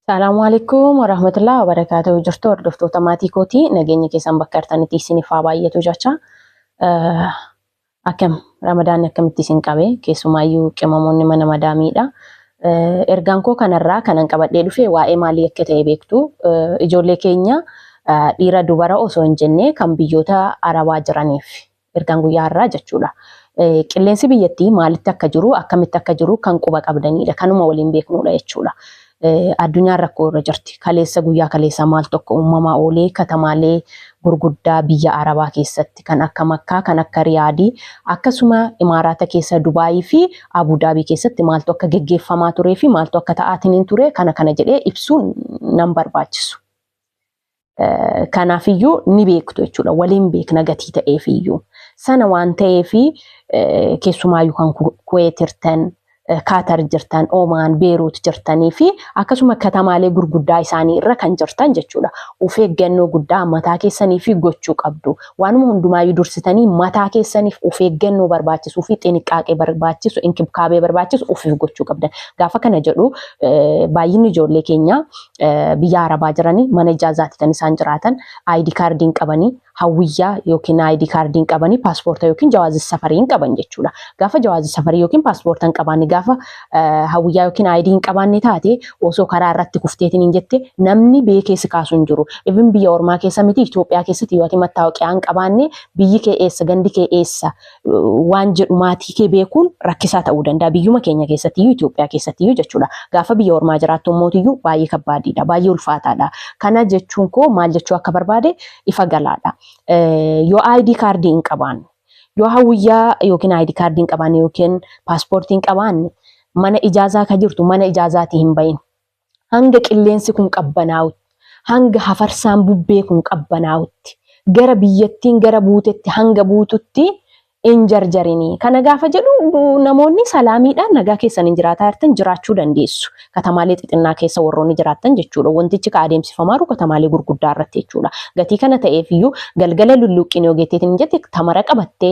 Salaamu alaikum warahmatullahi wabarakatuh jirtu hordoftoota maatii kootii nageenya keessan bakka jirtanitti isiniif haa baay'atu jecha akkam ramadaanni akkamitti isin qabe keessumaayyuu qimamoonni mana madaamiidha. Ergaan koo kanarraa kanan qabadhee dhufe waa'ee maalii akka ta'e beektu ijoollee keenya dhiira dubara osoo hin jenne kan biyyoota arabaa jiraniif Ergaan guyyaa har'aa jechuudha. Qilleensi biyyattii maalitti akka jiru, akkamitti akka jiru kan quba qabdaniidha. Kanuma waliin beeknuudha jechuudha. Addunyaan rakkoo irra jirti. Kaleessa guyyaa kaleessaa maal tokko uumamaa oolee katamaalee gurguddaa biyya Arabaa keessatti kan akka Makkaa, kan akka Riyaadii, akkasuma Imaaraata keessa Dubaayii fi Abudaabii keessatti maaltu akka geggeeffamaa turee fi maaltu akka ta'aatiin hin ture kana kana jedhee ibsuun nan barbaachisu. Kanaafiyyuu ni beektu jechuudha. Waliin beekna gatii ta'eefiyyuu. Sana waan ta'eef keessumaayyuu kan Kuweet jirtan, Kaatar jirtan, Omaan, Beeruut jirtanii fi akkasuma katamaalee gurguddaa isaanii irra kan jirtan jechuudha. Of eeggannoo guddaa mataa keessanii fi gochuu qabdu. Waanuma hundumaayyuu dursitanii mataa keessaniif of eeggannoo barbaachisuu fi xiniqqaaqee barbaachisu, inkibkaabee barbaachisu ofiif gochuu qabdan. Gaafa kana jedhu baay'inni ijoollee keenyaa biyya arabaa jiranii mana ijaazaati kan isaan jiraatan ID kaardii hin qabanii hawwiyyaa yookiin ID kaardii hin qabanii paaspoorta yookiin jawaazi safarii hin qaban jechuudha. Gaafa jawaazi safarii yookiin paaspoorta hin qabaanne gaafa hawwiyyaa yookiin ID hin qabaanne taate osoo karaa irratti kufteetiin hin jette namni biyya keessa kaasu hin jiru. Even biyya ormaa keessa miti Itoophiyaa keessatti yoo ati mattaawaqaa hin qabaanne biyyi kee eessa gandi kee eessa waan jedhu maatii kee beekuun rakkisaa ta'uu danda'a. Biyyuma keenya keessattiyyuu Itoophiyaa keessattiyyuu jechuudha. Gaafa biyya ormaa jiraattu immootiyyuu baay'ee kabbaadiidha. Baay'ee ulfaataadha. Kana jechuun koo maal jechuu akka barbaade ifa galaadha. Yoo ID kaardii hin qabaanne, yoo hawwiyyaa yookiin ID kaardii hin qabaanne yookiin paaspoortii hin qabaanne mana ijaazaa ka jirtu mana ijaazaatii hin bahin. Hanga qilleensi kun qabbanaa'utti, hanga hafarsaan bubbee kun qabbanaa'utti, gara biyyattiin gara buutetti hanga buututti hin jarjarini. Kana gaafa jedhu namoonni salaamiidhaan nagaa keessaniin jiraataa jirtan jiraachuu dandeessu. Katamaalee xixinnaa keessa warroonni jiraattan jechuudha. Wantichi ka adeemsifamaaru katamaalee gurguddaa irratti jechuudha. Gatii kana ta'eef iyyuu galgala lulluuqqiin yoo geetteetiin hin jette tamara qabattee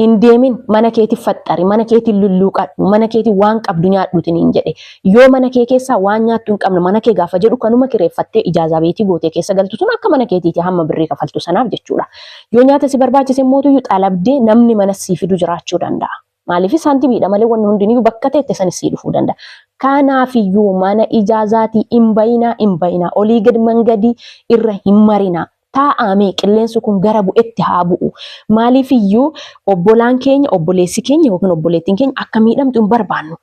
hin deemin mana keeti faxxari mana keetiin lulluuqadhu mana keetiin waan qabdu nyaadhuuti niin jedhe yoo mana kee keessaa waan nyaattu hin qabne mana kee gaafa jedhu kanuma kireeffattee ijaazaa beetii gootee keessa galtu sun akka mana keetiiti hamma birrii kafaltu sanaaf jechuudha yoo nyaata si barbaachise immootuyyuu xalabdee namni mana sii fidu jiraachuu danda'a maaliif saantibiidha malee wanni hundiniyyuu bakka teette san sii dhufuu danda'a kanaafiyyuu mana ijaazaatii hin bayinaa hin bayinaa olii gad mangadii irra hin marinaa taa'aamee qilleensi kun gara bu'etti haa bu'u. Maaliif iyyuu obbolaan keenya, obboleessi keenya yookiin obboleettiin keenya akka miidhamtu hin barbaannu.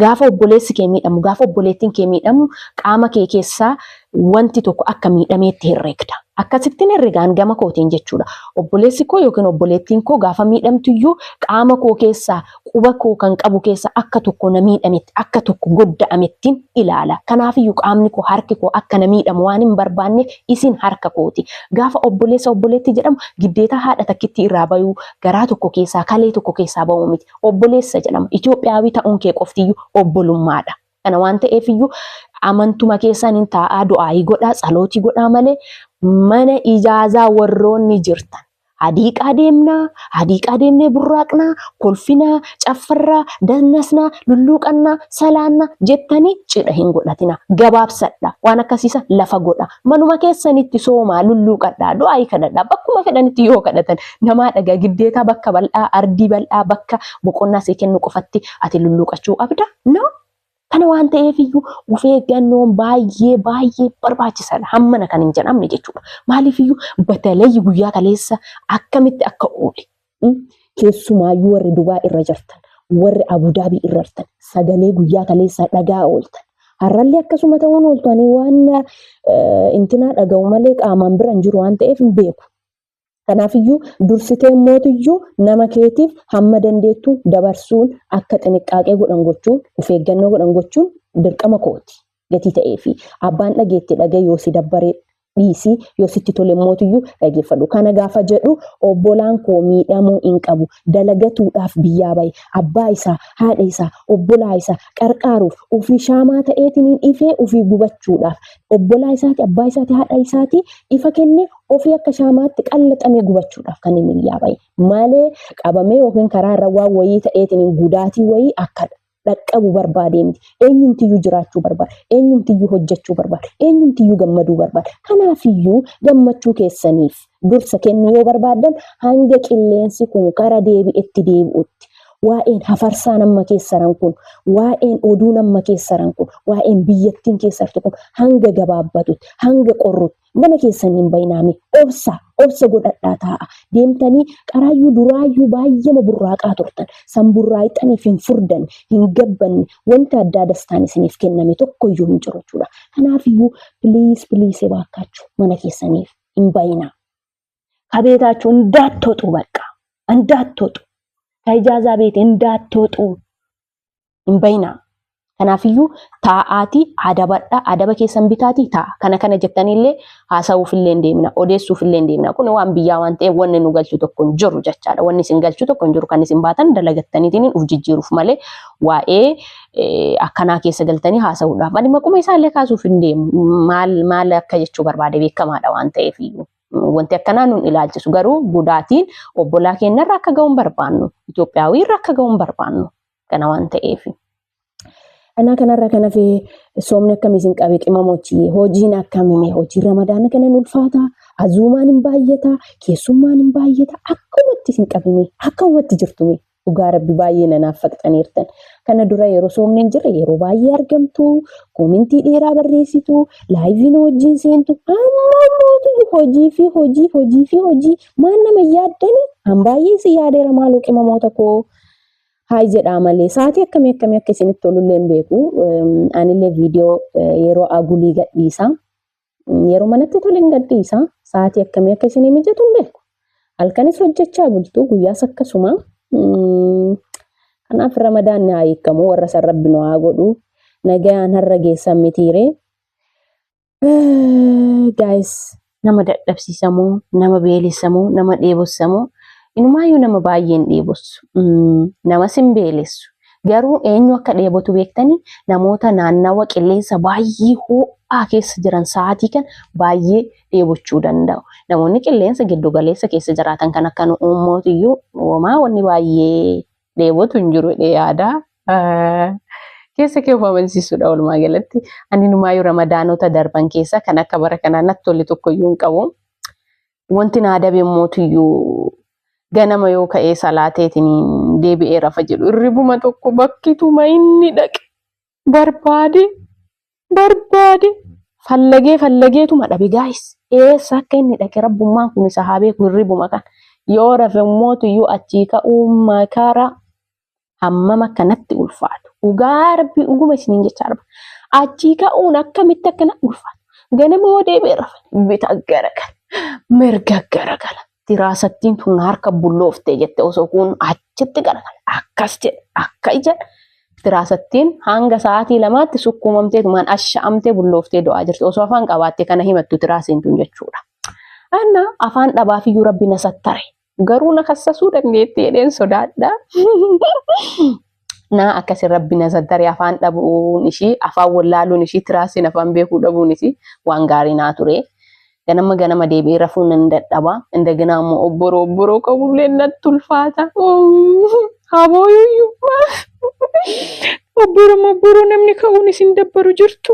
Gaafa obboleessi kee miidhamu, gaafa obboleettiin kee miidhamu qaama kee keessaa wanti tokko akka miidhameetti herregda. Akkasittiin herregaan gama kootiin jechuudha. Obboleessi koo yookiin obboleettiin koo gaafa miidhamtu iyyuu qaama koo keessaa quba koo kan qabu keessaa akka tokko na miidhametti, akka tokko godda'amettin ilaala. Kanaafiyyu qaamni koo, harki koo akka na miidhamu waan hin barbaanneef isin harka kooti. Gaafa obboleessa obboleettii jedhamu giddeetaa haadha takkittii irraa bayuu, garaa tokko keessaa, kalee tokko keessaa ba'uu miti. Obboleessa jedhama. Itoophiyaawii ta'uun kee qoftiyyuu obbolummaadha. Kana waan ta'eef iyyuu amantuma keessan hin taa'aa du'aayii godhaa tsalootii godhaa malee mana ijaazaa warroonni jirtan hadiiqaa deemnaa hadiiqaa deemnee burraaqnaa kolfinaa caffarraa dannasnaa lulluuqannaa salaannaa jettanii cidha hin godhatinaa gabaabsadha waan akkasiisa lafa godha manuma keessanitti soomaa lulluuqadhaa du'aayii kadhadhaa bakkuma fedhanitti yoo kadhatan namaa dhagaa giddeetaa bakka bal'aa ardii bal'aa bakka boqonnaa see kennu qofatti ati lulluuqachuu qabda. No? Kana waan ta'eef iyyuu of eeggannoon baay'ee baay'ee barbaachisaadha. Hammana kan hin jedhamne jechuudha. Maaliif iyyuu batalee guyyaa kaleessa akkamitti akka oole. mm, Keessumaayyuu warri Dubaa irra jirtan, warri Abudaabii irra jirtan, sagalee guyyaa kaleessaa dhagaa ooltan. Har'allee akkasuma ta'uun ooltu ani waan eh, intinaa dhaga'u malee qaamaan bira hin jiru waan ta'eef hin beeku. Kanaafiyyuu dursitee mootuyyuu nama keetiif hamma dandeettuun dabarsuun akka xiniqqaaqee godhan gochuun of eeggannoo godhan gochuun dirqama kooti gatii ta'eefi. Abbaan dhageette dhaga'i yoo si dabbare dhiisi yoo sitti tole mootuyyuu dhageeffadhu. Kana gaafa jedhu obbolaan koo miidhamuu hin qabu dalagatuudhaaf biyyaa bahe abbaa isaa, haadha isaa, obbolaa isaa qarqaaruuf ofii shaamaa ta'eetiniin ifee ofii gubachuudhaaf obbolaa isaati, abbaa isaati, haadha isaati ifa kenne ofii akka shaamaatti qallaxamee gubachuudhaaf kan inni iyyaa bahe malee qabamee yookiin karaa irra waan wayii ta'eetiin gudaatii wayii akka dhaqqabu barbaadee miti. Eenyumtiyyuu jiraachuu barbaada. Eenyumtiyyuu hojjechuu barbaada. Eenyumtiyyuu gammaduu barbaada. Kanaafiyyuu gammachuu keessaniif dursa kennuu yoo barbaaddan hanga qilleensi kun gara deebi'etti deebi'utti waa'een hafarsaa nama keessaran kun waa'een oduu nama keessaran kun waa'een biyyattiin keessartu kun hanga gabaabbatutti hanga qorrutti Mana keessan hin bayinaame obsa obsa godhadhaa taa'a deemtanii qaraayyuu duraayyuu baay'eema burraaqaa turtan san burraayxaniif hin furdanne hin gabbanne wanti addaa dastaan isiniif kenname tokkoyyuu hin jiru jechuudha kanaafiyyuu please please ebaakkaachu mana keessaniif hin bayinaa kabeetaachu indaattoxuu baqqaa indaattoxu ka ijaazaa beete indaattoxuu hin bayinaa. Kanaafiyyuu taa'aatii adabadha adaba keessan bitaatii taa'a. Kana kana jettaniillee haasa'uufillee hin deemina odeessuufillee hin deemina. Kun waan biyyaa waan ta'eef wanni nu galchu tokko hin jiru jechaadha. Wanni isin galchu tokko hin jiru kan isin baatan dalagattaniitiin uf jijjiiruuf malee waa'ee eh, akkanaa keessa galtanii haasa'uudhaaf. Ani maquma isaallee kaasuuf hin deemu. Maal maal akka jechuu barbaade beekamaadha waan ta'eef iyyuu. Wanti akkanaa nun ilaalchisu garuu gudaatiin obbolaa keenyarra akka ga'uun barbaannu. Itoophiyaawii irra akka ga'uun barbaannu. kana waan ta'eef. Kanaa kanarraa kan hafe soomni akkamii isin qabe qimamochi hojiin akkamime hojiin ramadaana kana hin ulfaata azuumaan hin baay'ata keessummaan hin baay'ata akkumatti isin qabime akkumatti jirtume dhugaa rabbi baay'ee nanaaf faqxaniirtan kana dura yeroo soomni hin jirre yeroo baay'ee argamtu koomintii dheeraa barreessitu laayiviin hojiin seentu amma mootu hojii fi hojii hojii fi hojii maan nama yaaddani an baay'ee si yaadeera maaloo qimamoota koo Haay jedhaa malee sa'aatii akkamii akkamii akka isinitti tolullee hin beeku. Anillee viidiyoo yeroo agulii gadhiisa. Yeroo manatti tole hin gadhiisa. Sa'aatii akkamii akka isinii mijatu hin beeku. Halkanis hojjechaa bultu guyyaas akkasuma. Kanaaf ramadaanni haa hiikamu warra san rabbi nu haa godhu. Nagayaan har'a geessan mitiiree. Gaayis nama dadhabsiisamoo nama beelessamoo nama dheebossamoo inumaayyuu nama baay'een dheebossu namas hin beelessu garuu eenyu akka dheebotu beektanii namoota naannawa qilleensa baay'ee ho'aa keessa jiran sa'aatii kan baay'ee dheebochuu danda'u namoonni qilleensa giddu galeessa keessa jiraatan kan akka nu uummootiyyuu uumaa wanni baay'ee dheebotu hin jiru jedhee yaada. Keessa kee of amansiisuudha walumaa galatti. Ani numaayyuu ramadaanota darban keessa kan akka bara kanaa natti tole tokkoyyuu hin qabu. Wanti naa dabe mootiyyuu ganama yoo ka'ee salaateetiin deebi'ee rafa jedhu irribuma tokko bakkituma inni dhaqe barbaade barbaade fallagee fallageetuma dhabe gaayis eessa akka inni dhaqe rabbummaan kun isa haa beeku hirribuma kan yoo rafe ummootu iyyuu achii ka'uu makara hammam akka natti ulfaatu dhugaa rabbii dhuguma isiniin jechaa arba achii ka'uun akkamitti akka natti ulfaatu ganama yoo deebi'e rafe bita gara kana mirga gara kana diraasattiin tun harka bulloofte jette osoo kun achitti garagale akkas jedhe akka ija diraasattiin hanga sa'aatii lamaatti sukkuumamtee tumaan asha'amtee bullooftee du'aa jirti osoo afaan qabaatte kana himattu diraasiin tun jechuudha. Anna afaan dhabaafiyyuu rabbi na sattare garuu na kassasuu dandeetti jedheen sodaadha. naa akkasi rabbi na zaggare afaan dhabuun ishii afaan wallaaluun ishii tiraasiin afaan beekuu dhabuun ishii waan gaarii naa ture. Ganama ganama deebi'ee rafuu nan dadhaba. Indagina ammoo obboroo obboroo qabullee natti ulfaata. Habooyuyyuu obboroo obboroo namni ka'uun isin dabbaru jirtu.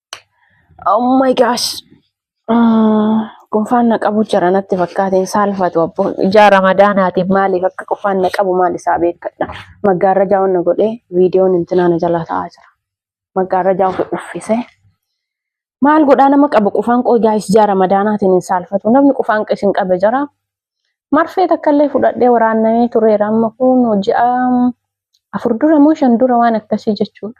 Oh my gosh. Mm, Qunfaan na qabu jira natti fakkaateen saalfatu abbo. Ijaa ramadaanaatiin maaliif akka qunfaan na qabu maal isaa beekadha. Maggaarrajaa wanna godhee viidiyoon intinaa na jalaa ta'aa jira. Maggaarrajaa ofii uffisee. Maal godhaa nama qabu qufaan qoo gaayis ijaa ramadaanaatiin hin saalfatu. Namni qufaan isin qabe jira. Marfee takkallee fudhadhee waraannamee tureera amma kun ji'a afur dura moo shan dura waan akkasii jechuudha.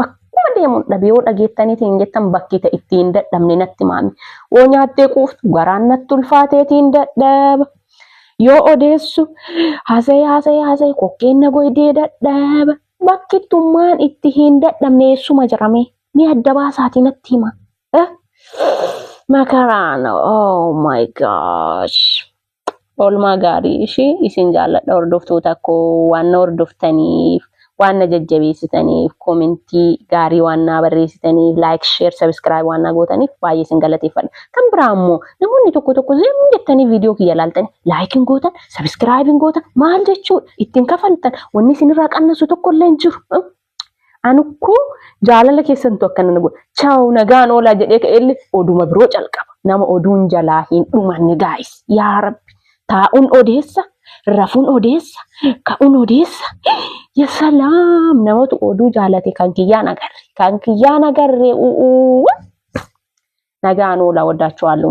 Bakkuma deemuun dhabe yoo dhageettaniiti hin jettan bakki ta'e itti hin dadhabne natti maame. Yoo nyaattee quuftu garaan natti ulfaateeti hin dadhaba. Yoo odeessu haasa'ee haasa'ee haasa'ee kokkeen na goydee dadhaba. Bakki tummaan itti hin dadhabne eessuma jirame mee adda baasaatii natti hima. Makaraan oh my gosh. Oolmaa gaarii ishii isin jaalladha hordoftoota koo waan na hordoftaniif waan na jajjabeessitaniif koomentii gaarii waan naa barreessitaniif laayik sheer sabiskiraayib waan naa gootaniif baay'ee isin galateeffadha. Kan biraa immoo namoonni tokko tokko zim jettanii viidiyoo kiyya ilaaltanii laayik hin gootan sabiskiraayib hin gootan maal jechuudha ittiin kafaltan wanni isinirraa qannasu tokko illee hin jiru. Anukkoo jaalala keessantu akkana na godha. Chaaw nagaan oolaa jedhee ka'eellee oduma biroo calqaba. Nama oduun jalaa hin dhumanne gaayis. Yaa rabbi taa'un odeessa, rafun odeessa, ka'un odeessa. Ya salaam namatu oduu jaalate kan kiyyaan agarre. Kan kiyyaan agarre u'uu. Nagaan oolaa waddaachuu haallu.